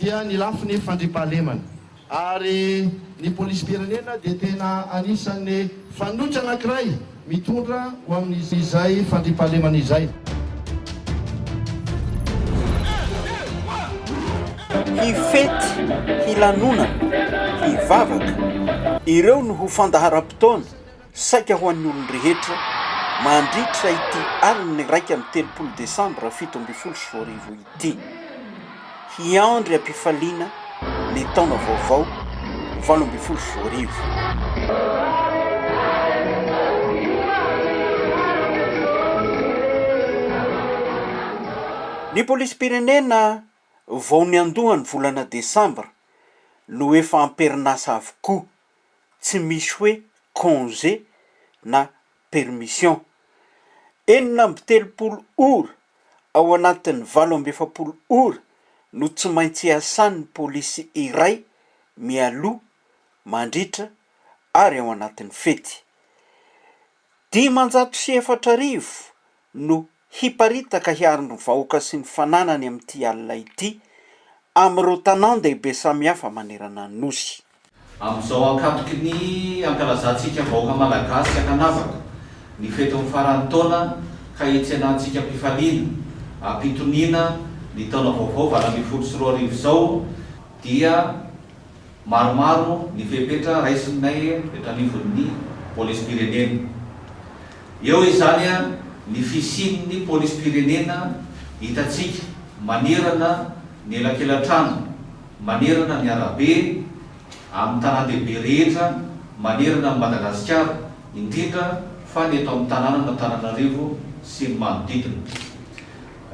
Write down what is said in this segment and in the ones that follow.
dia ny lafiny fandriampahalemana ary ny polisim-pirenena dia tena anisan'ny fanoitra anankiray mitondra ho amin'izay fandriampahalemana izay. Hifety, hilanonana, hivavaka, ireo no ho fandaharam-potoana. Saika ho an'ny olon-drehetra, mandritra ity alin'ny iraika amby telopolo desambra fito ambin'ny folo sy roa arivo ity, hiandry am-pifaliana ny taona vaovao valo ambin'ny folo sy roa arivo. Ny polisim-pirenena vao niandohan'ny volana desambra no efa am-perinasa avokoa. tsy misy hoe congé na permission. Enina amby telopolo ora ao anatin'ny valo amby efapolo ora no tsy maintsy iasan'ny polisy iray mialoha, mandritra ary ao anatin'ny fety. Dimanjato sy efatra arivo no hiparitaka hiaro ny vahoaka sy ny fananany amin'ity alina ity amin'ireo tanàn-dehibe samihafa manerana ny Nosy. Amin'izao ankatoky ny ankalazantsika vahoaka Malagasy ankanavaka ny fetin'ny faran'ny taona ka hitsenantsika am-pifaliana, am-pitoniana ny taona vaovao valo ambin'ny folo sy roa arivo izao dia, Maromaro ny fepetra raisinay eto anivon'ny polisim-pirenena. Eo izany ny fisian'ny polisim-pirenena hitantsika manerana ny elakelan-trano, manerana ny arabe, amin'ny tanàn-dehibe rehetra manerana an'i Madagasikara, indrindra fa ny eto amin'ny tanànan'Antananarivo sy ny manodidina.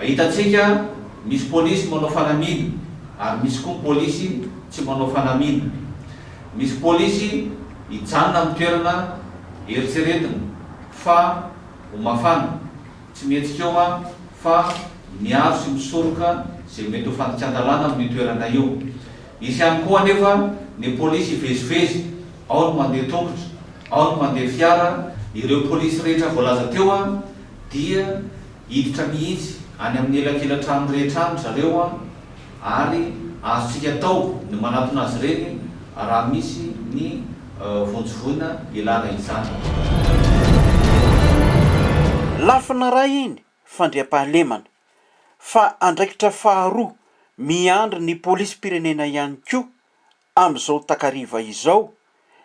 Hitantsika misy polisy manao fanamiana ary misy koa ny polisy tsy manao fanamiana. Misy polisy hijanona amin'ny toerana eritreretina fa ho mafana, tsy mihetsika eo an, fa miaro sy misoroka izay mety ho fandikan-dalàna amin'io toerana io. Hisy ihany koa anefa ny polisy hivezivezy, ao ny mandeha tongotra, ao ny mandeha fiara. Ireo polisy rehetra voalaza teo dia. Hiditra mihitsy any amin'ny elakelan-trano rehetra any ry zareo an, ary azontsika atao ny manatona azy ireny raha misy ny vonjy voina ilana izany. Lafiny iray iny fandriampahalemana, fa andraikitra faharoa miandry ny polisim-pirenena ihany koa Amin'izao takariva izao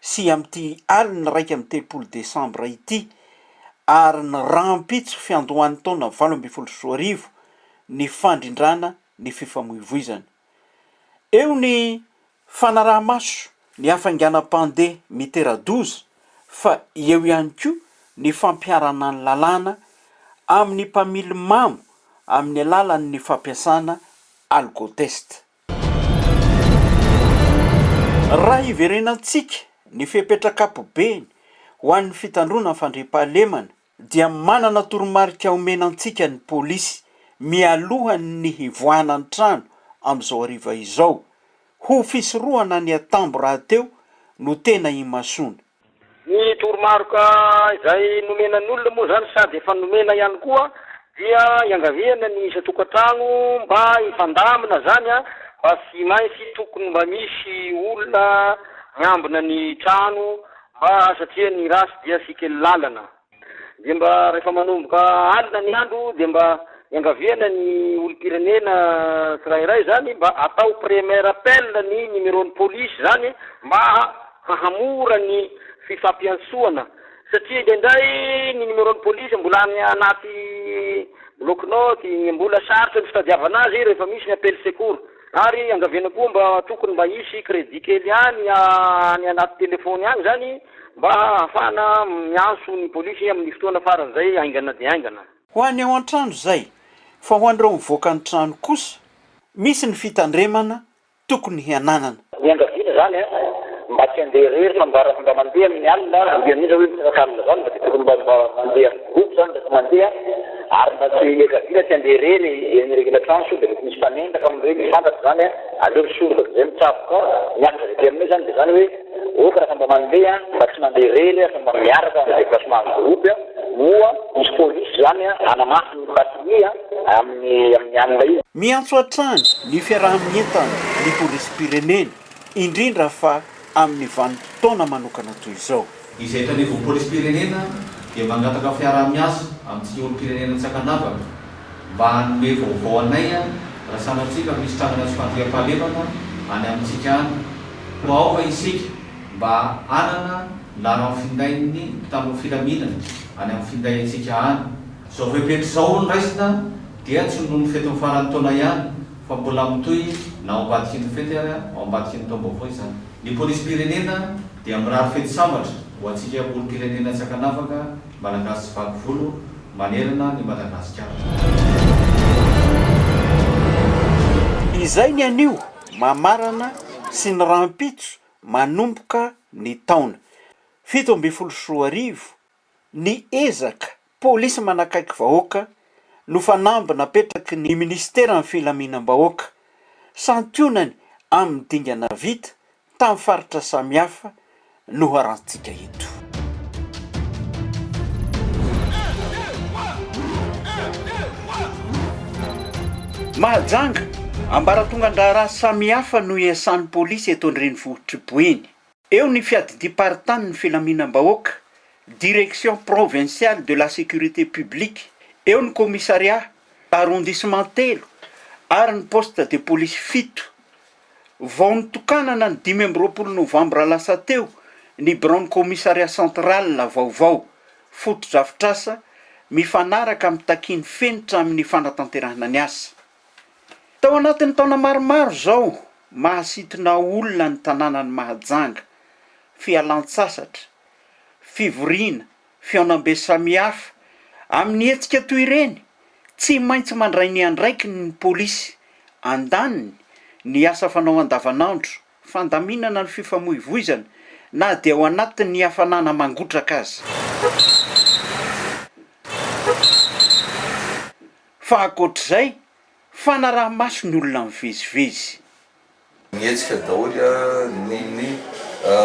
sy amin'ity alin'ny iraika amby telopolo desambra ity ary ny rahampitso fiandohan'ny taona valo ambin'ny folo sy roa arivo ny fandrindrana ny fifamoivoizana. Eo ny fanaraha-maso ny hafainganam-pandeha mitera-doza fa eo ihany koa ny fampiharana ny lalàna amin'ny mpamily mamo amin'ny alalan'ny fampiasana alkotesta. Raha hiverenantsika ny fepetra ankapobeny ho an'ny fitandroana ny fandriampahalemana dia manana toromarika omena antsika ny polisy mialohan'ny hivoahana ny trano amin'izao hariva izao. Ho fisorohana ny atambo rahateo no tena imasoana. Ny toromaroka izay nomena ny olona moa izany sady efa nomena ihany koa dia iangaviana ny isan-tokantrano mba hifandamina izany fa tsy maintsy tokony mba misy olona miambina ny trano mba satria ny ratsy dia tsy kely lalana. Dia mba rehefa manomboka alina ny andro dia mba iangaviana ny olom-pirenena tsirairay izany mba atao premier appel ny numeron'ny polisy izany mba hahamora ny fifampiantsoana satria indraindray ny numeron'ny polisy mbola any anaty bloc-note, mbola sarotra ny fitadiavana azy rehefa misy ny appel secours. Ary angaviana koa mba tokony mba hisy crédit kely ihany any anaty téléphone any izany mba hahafahana miantso ny polisy amin'ny fotoana faran'izay haingana dia haingana. Ho any ao an-trano izay, fa ho an'ireo mivoaka ny trano kosa, misy ny fitandremana tokony hananana. Niangaviana izany an! Mba tsy handeha irery fa mba raha mba mandeha amin'ny alina an! Indrindra indrindra hoe mitraka alina izany mba dia tokony mba mba mandeha amin'ny groupe izany rehefa mandeha ary mba tsy iangaviana tsy handeha irery eny regina trano sao dia mety misy mpanendaka amin'ireny tsy fantatra izany an! Aleo misoroka dia izay mitsaboka miakatra avy aty aminay izany dia izany hoe ok raha mba mandeha an! Mba tsy mandeha irery an! Fa mba miaraka amin'ny déplacement groupe an! Moa misy police izany an! Hanamafy ny batterie an! amin'ny amin'ny alina io. Miantso hatrany ny fiaraha-mientan'ny polisim-pirenena, indrindra fa amin'ny vanim-potoana manokana toy izao. Ny zaitra anivon'ny polisim-pirenena dia mangataka fiaraha-miasa amintsika olom-pirenena tsy ankanavaka mba hanome vaovao anay raha sanatria ka misy trangana tsy fandriampahalemana any amintsika any koa aoka isika mba hanana laharan'ny findain'ny mpitandro ny filaminana any amin'ny finday antsika any. Izao fepetra izao hono raisina dia tsy noho ny fetin'ny faran'ny taona ihany fa mbola mitohy na ao ambadikin'ny fety ary ao ambadikin'ny taom-baovao izany. Ny polisim-pirenena dia mirary fety sambatra ho antsika olom-pirenena tsy ankanavaka, Malagasy tsy vaky volo manerana an'i Madagasikara. Izay ny anio mamarana sy ny rahampitso manomboka ny taona. Fito ambin'ny folo sy roa arivo ny ezaka polisy manakaiky vahoaka no fanamby napetraky ny minisiteran'ny filaminam-bahoaka, santionany amin'ny dingana vita tamin'ny faritra samihafa no harantsika eto. Mahajanga, ambaratongan-draharaha samihafa no iasan'ny polisy eto an-drenivohitr'i Boeny. Eo ny fiadidiam-paritanin'ny filaminam-bahoaka, Direction provinciale de la sécurité publique, eo ny commissariat arrondissement telo ary ny poste de police fito. Vao notokanana ny dimy amby roapolo novambra lasa teo ny biraon'ny commissariat central vaovao, fotodrafitrasa mifanaraka amin'ny takian'ny fenitra amin'ny fanatanterahana ny asa. Tao anatin'ny taona maromaro izao, mahasintona olona ny tanànan'i Mahajanga, fialan-tsasatra, fivoriana, fihaonambe samihafa. Amin'ny hetsika toy ireny, tsy maintsy mandray ny andraikiny ny polisy. Andaniny, ny asa fanao andavanandro, fandaminana ny fifamoivoizana, na dia ao anatin'ny hafanana mangotraka aza. fa ankoatr'izay, fanaraha-maso ny olona mivezivezy. Mihetsika daholo ny ny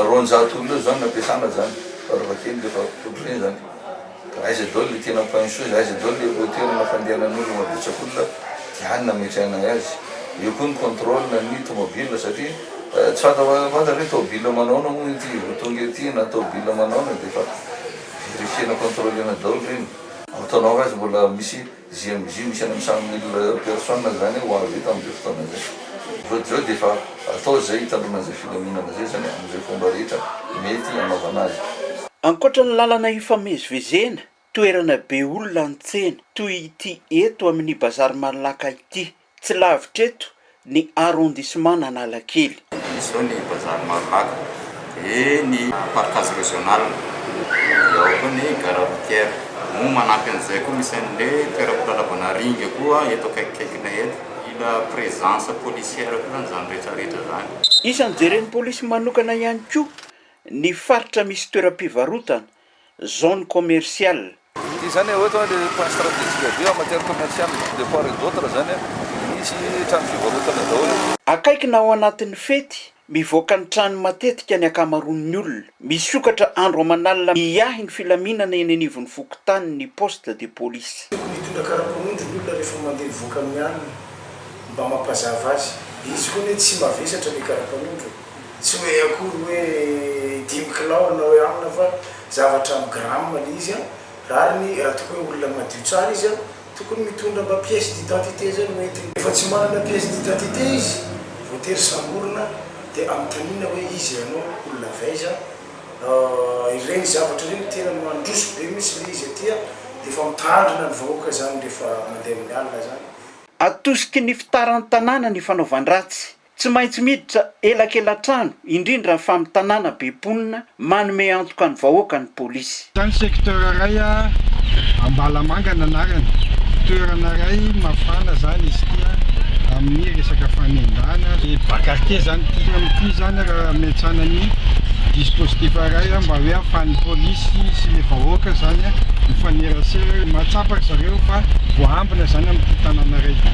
roanjato olona eo izany no ampiasana izany fara-fahakeliny rehefa totry ny izany. Ka aiza daholo ilay tena point chose, aiza daholo ilay ireo toerana fandehanan'olona betsak'olona dia any no ametrahana azy. Eo koa ny contrôle ny tomobil satria tsy fantafantatra hoe tomobil manahoana moa ity vao tonga ety na tomobil manahoana dia efa verifiena, contrôle-na daholo ireny. Azo tandao fa izy mbola misy GMJ misy any amin'ny cent mille personnes izany ho avy tamin'izay fotoana izay. Voa Joe dia efa atao izay hitandroana an'izay filaminana izay izany amin'izay fomba rehetra mety hanaovana azy. Ankoatra ny lalana ifamezivezena, toerana be olona any tsena, toy ity eto amin'ny Bazary Malac ity, tsy lavitra eto ny arrondissement-n'Analakely. Dia izao ny vazaha ny Marolaka, dia ny parkage regional, dia ao koa ny gare routière. Moa manampy an'izay koa misy an'le toeram-pilalaovana ringa koa eto akaikikaikinay eto. Mila présence policière koa zany zany rehetra rehetra zany. Isan'ny jeren'ny polisy manokana ihany koa ny faritra misy toeram-pivarotana, zone commerciale. Ity izany hoe ohatra hoe le point stratégique avy eo en matière commerciale de part et d'autre izany an, misy trano fivarotana daholo. Akaiky na ao anatin'ny fety, mivoaka ny trano matetika ny ankamaroan'ny olona. Misokatra andro aman'alina miahy ny filaminana eny anivon'ny fokontany ny poste de police. Tiako mitondra karapanondro ny olona rehefa mandeha mivoaka amin'ny alina mba mampazava azy. Izy hono hoe tsy mavesatra le karapanondro e. Tsy hoe akory hoe dimy kilao na hoe amina fa zavatra amin'ny grammes le izy an! Rariny raha toa ka hoe olona madio tsara izy an! Tokony mitondra mba pièce d'identité zay no entiny. Rehefa tsy manana pièce d'identité izy, voatery samborina dia anontaniana hoe izy ianao olona avy aiza an! Ireny zavatra ireny no tena mandroso be mintsy le izy aty an! Dia efa mitandrina ny vahoaka zany rehefa mandeha amin'ny alina zany. Atosiky ny fitaran-tanàna ny fanaovan-dratsy Tsy maintsy miditra elakelatrano, indrindra ny famintanana be mponina manome antoka ny vahoaka ny polisy. Tany secteur iray Ambalamanga ny anarany, toerana iray mafana izany izy ity amin'ny resaka fanendahana, dia bas quartier izany ity, toy ny ity izany raha miantsana ny dispositif iray mba hoe ahafahan'ny polisy sy ny vahoaka izany mifanerasera, mahatsapa ry zareo fa voahambina izany amin'ity tanàna iray ity.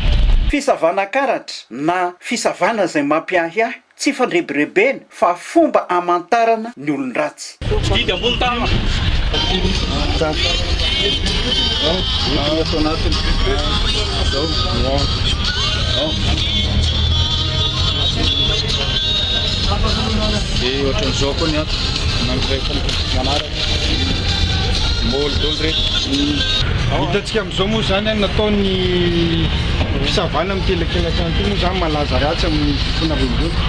Fisavana karatra, na fisavana izay mampiahiahy, tsy fandrebirebena fa fomba hamantarana ny olon-dratsy. Didy ambony tànana. Maholy daholo reto. Hitantsika amin'izao moa izany an, nataon'ny fisavana amin'ity elakelan-trano ity moa izany malaza ratsy amin'ny fofona renivohitra.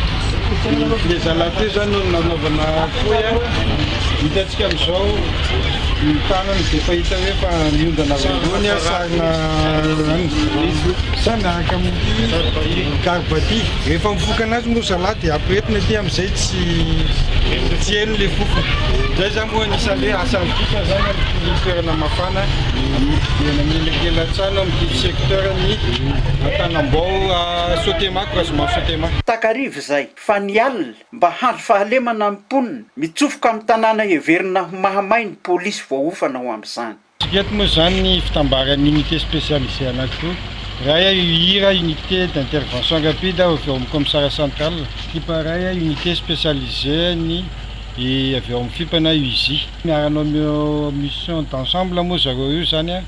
Ny filezalahy teo izany no nanaovana fohy an, hitantsika amin'izao ny tanany dia efa hita hoe efa miondana avy ambony an, sarina an, miaraka amin'ity garba ity. Rehefa mifoka anazy moa zalahy dia ampirehetina aty amin'ny. Zay tsy tsy heno le fofona. Zay za moa anisany hoe asa ampitso za na mitory toerana mafana dia namelakelatsana mitory secteur ny Antanambao à Sotema ko Rajomanga Sotema. Takariva izay, fa ny alina, mba handry fahalemana ny mponina, mitsofoka amin'ny tanàna heverina ho mahamay ny polisy voaofana ho amin'izany. Tsy mety moa izany ny fitambaran'ny unité spécialisée anankiroa. Iray a UIR, unité d'intervention rapide, avy ao amin'ny Commissariat central. Fipa iray a unité spécialisée-ny avy ao amin'ny Fipa na UISI. Miara-hanao mi-mission d'ensemble moa zareo io izany a,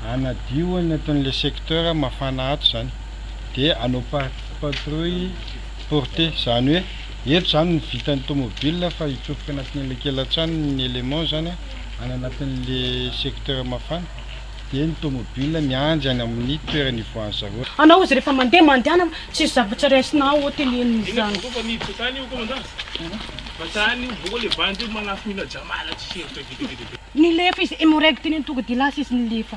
hanadio any anatin'ilay secteur mafana ato izany. Dia hanao patrouille portée. Izany hoe, eto izany ny vitan'ny tomobile fa hitsofoka anatin'ilay kelan-trano ny élément izany a. any anatin'le secteur mafana dia ny tomobile miandry any amin'ny toerana ivoahan'ny zareo. Anao izy rehefa mandeha mandehana tsisy zavatra raisina ao hoteleny izany. Nilefa izy, hemorragie teny an-tongodia lasa izy nilefa.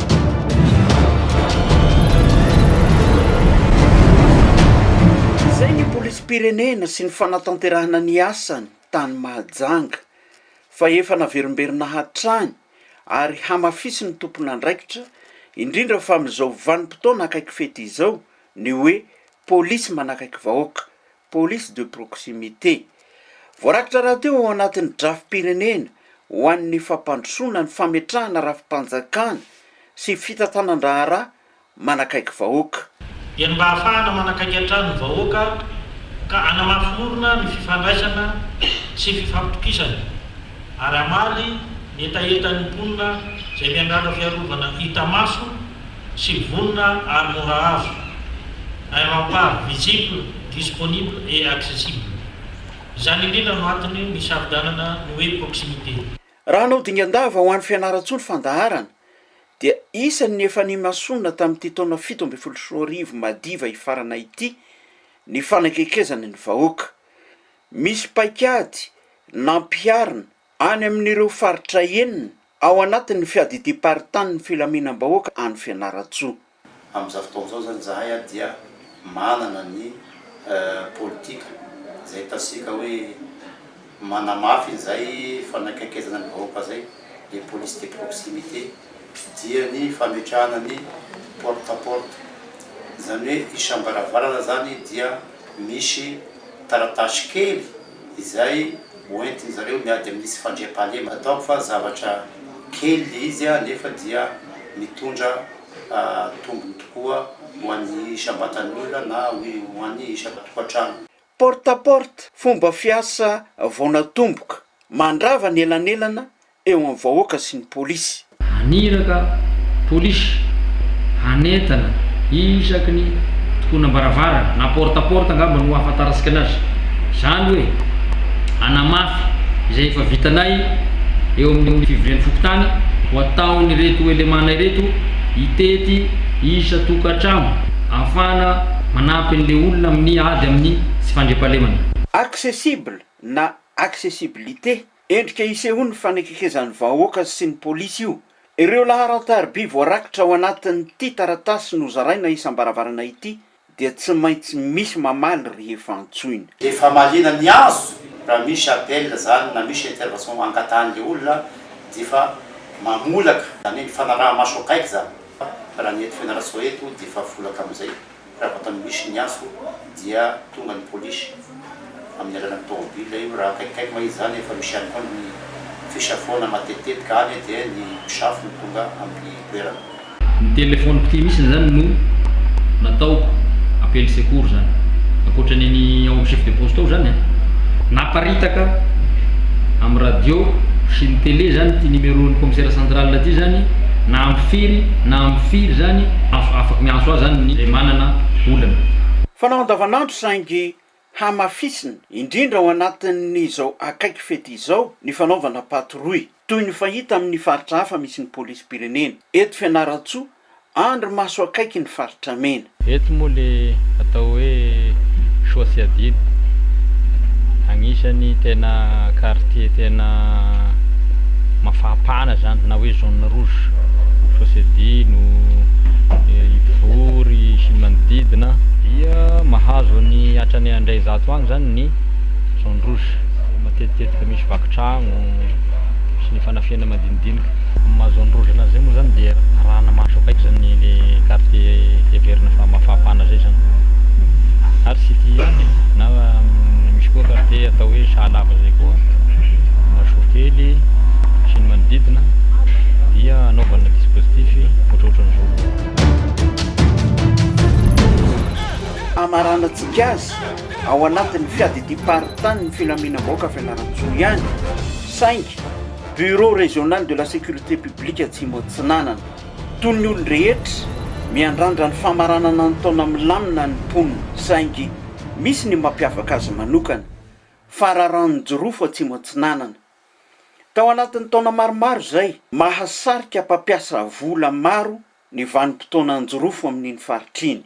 Izay ny polisim-pirenena sy ny fanatanterahana ny asany tany Mahajanga fa efa naverimberina hatrany ary hamafisin'ny tompon'andraikitra, indrindra fa amin'izao vanim-potoana akaiky fety izao, ny hoe polisy manakaiky vahoaka, police de proximité. Voarakitra rahateo ao anatin'ny drafi-pirenena ho an'ny fampandrosoana ny fametrahana rafi-panjakana sy fitantanan-draharaha manakaiky vahoaka. dia ny mba hahafahana manakaiky hatrany ny vahoaka ka hanamafy orina ny fifandraisana sy fifampitokisana. ary hamaly ny hetahetan'ny mponina izay miangadra fiarovana hita maso sy vonona ary mora azo, un rempart visible, disponible et accessible. Izany indrindra no antony nisafidianana ny hoe proximité. Raha hanao dingan-dava ho an'i Fianarantsoa ny fandaharana dia isan' ny efa nimasoana tamin'ity taona fito ambin'ny folo sy roa arivo madiva hifarana ity ny fanakekezana ny vahoaka. Misy paikady nampiharina any amin'ireo faritra enina ao anatin'ny fiadidiam-paritanin'ny filaminam-bahoaka any Fianarantsoa. Amin'izao fotoana izao izany izahay dia manana ny politika izay ataontsika hoe manamafy izay fanakaikezana ny vahoaka izay, les polices de proximité, dia ny fametrahana ny porte à porte, izany hoe isam-baravarana izany dia. Misy taratasy kely izay hoentin-dry zareo miady amin'ny tsy fandriampahalema. Ataoko fa zavatra kely ilay izy nefa dia mitondra tombony tokoa ho an'ny isam-batan'ny olona na ho an'ny isan-tokantrano. Porte à porte, fomba fiasa vao natomboka, mandrava ny elanelana eo amin'ny vahoaka sy ny polisy. Haniraka polisy hanentana isaky ny tokonam-baravarana na porte à porte angamba no ahafantarantsika anazy, izany hoe hanamafy izay efa vitanay eo amin'ny fivorian'ny fokontany ho ataon'ireto elemana ireto hitety isan-tokantrano ahafahana manampy an'ilay olona amin'ny ady amin'ny tsy fandriampahalemana. Accessible na accessibilité Endrika hisehoan'ny fanekekezan'ny vahoaka sy ny polisy io. Ireo laharan-tariby voarakitra ao anatin'ity taratasy nozaraina isam-baravarana ity dia tsy maintsy misy mamaly rehefa antsoina. Dia famaliana ny azo raha misy appel izany na misy intervention angatahan'ilay olona dia efa mamolaka izany hoe ny fanaraha-maso akaiky izany. Raha ny eto Fianarantsoa eto dia efa volaka amin'izay. Raha vao nisy ny afo dia tonga ny polisy amin'ny alalan'ny tomobilina io, raha akaikikaiky moa izy izany efa misy ihany koa ny fisafoana matetitetika any dia ny mpisafo no tonga amin'ny toerana. Ny téléphone ity mihitsy izany no natao appel secours izany, ankoatra ny an'ny ao amin'ny chef de poste ao izany naparitaka amin'ny radio sy ny télé izany ity numéro-n'ny commissaire central ity izany na amin'ny firy na amin'ny firy izany, Miantso ahy zany ny manana olana. Fanao andavanandro saingy hamafisina, indrindra ao anatin'izao akaiky fety izao, ny fanaovana patrouille, toy ny fahita amin'ny faritra hafa misy ny polisim-pirenena. Eto Fianarantsoa, andry maso akaiky ny faritra mena. Eto moa le atao hoe soa tsy adino. Agnisany tena quartier tena mafampana zany na hoe zone rouge. Fosebino, Ivory sy ny manodidina dia mahazo ny hatrany indray zato any zany ny zone rouge, matetitetika misy vaky tragno sy ny fanafihana madinidinika. Amin'ny maha zone rouge anazy zay moa zany dia arahana maso akaiky zany le quartier heverina fa mafapana zay zany ary tsy ity ihany na misy koa quartier atao hoe sahalava zay koa, Masokely sy ny manodidina. dia anaovana dispositif ohatrohatran'izao. Hamaranantsika azy ao anatin'ny fiadidiam-paritanin'ny filaminam-bahoaka Fianarantsoa ihany saingy Bureau Régional de la Sécurité Publique Atsimo Atsinanana. Toy ny olon-drehetra, miandrandra ny famaranana ny taona milamina ny mponina saingy misy ny mampiavaka azy manokana, fararanon-jirofo Atsimo Atsinanana. Tao anatin'ny taona maromaro izay, mahasarika mpampiasa vola maro ny vanim-potoana an-jirofo amin'iny faritra iny.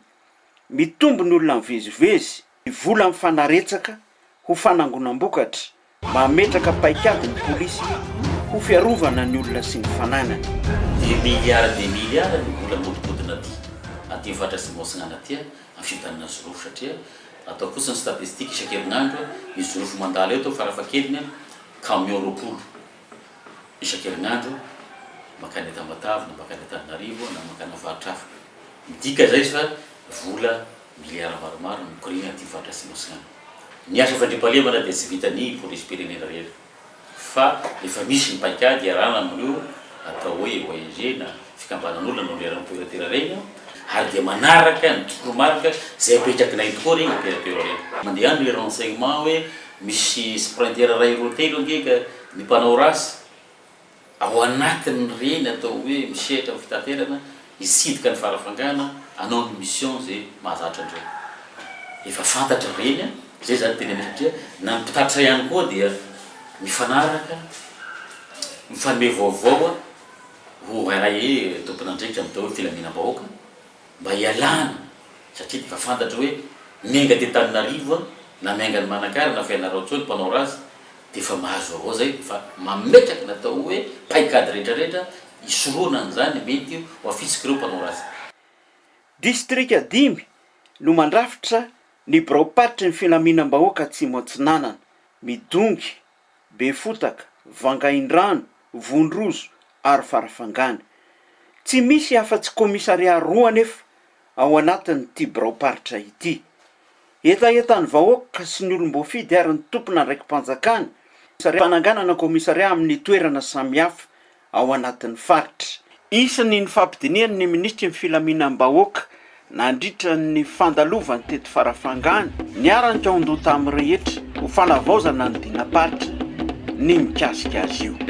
Mitombo ny olona mivezivezy, ny vola mifanaretsaka ho fanangonam-bokatra, mametraka paikady ny polisy ho fiarovana ny olona sy ny fananany. Dia miliara dia miliara ny vola mihodinkodina aty, aty Vatra sy Moatsinganatier, amin'ny fitanana Jirofo satria, Atao fotsiny statistique isan-kerinandro ny jorofo mandalo eto farafahakeliny camion roapolo isan-kerinandro mankany Tamatave na mankany Antananarivo na mankana faritra hafa. Midika izay fa vola milliards maromaro no mikoriana aty faritra Atsimo Atsinanana. Ny asa fandriampahalemana dia tsy vitan'ny polisim-pirenena rery. fa efa misy ny paikady iarahana amin'ireo atao hoe ONG na fikambanan'olona no niharan'ny toeratera reny ary dia manaraka ny toromarika izay apetrakinay tokoa reny ny toeratera reny. Mandeha any le renseignement hoe misy sprinter iray roa telo ange ka ny mpanao ratsy. Ao anatin'ireny atao hoe misehatra amin'ny fitaterana, hitsidika ny farafangana, hanao ny mission izay mahazatra an'ireny. Efa fantatra ireny an! Izay izany tena misy satria na ny mpitatitra ihany koa dia mifanaraka, mifanome vaovao an! Ho RAE tompon'andraikitra amin'ny atao hoe filaminam-bahoaka. Mba hialana satria efa fantatro hoe miainga aty Antananarivo an, na miainga any Manakara na Fianarantsoa ny mpanao razy dia efa mahazo vaovao izay fa mametraka ny atao hoe paikady rehetra rehetra hisoroana an'izany mety ho afitsik'ireo mpanao razy. Distrika dimy no mandrafitra ny biraom-paritry ny filaminam-bahoaka Atsimo Atsinanana, midongy Befotaka, Vangaindrano, Vondrozo ary Farafangana. Tsy misy afa-tsy kaomisarià roa anefa ao anatin'ity biraom-paritra ity. Hetahetan'ny vahoaka sy ny olom-boafidy ary ny tompon'andraiki-panjakana ny fananganana kaomisarià amin'ny toerana samihafa ao anatin'ny faritra. Isan'ny nifampidinihany ny minisitry ny filaminam-bahoaka nandritra ny fandalovany teto Farafangana, niara-nikaon-doha tamin'ny rehetra ho fanavaozana ny dinam-paritra ny mikasika azy io.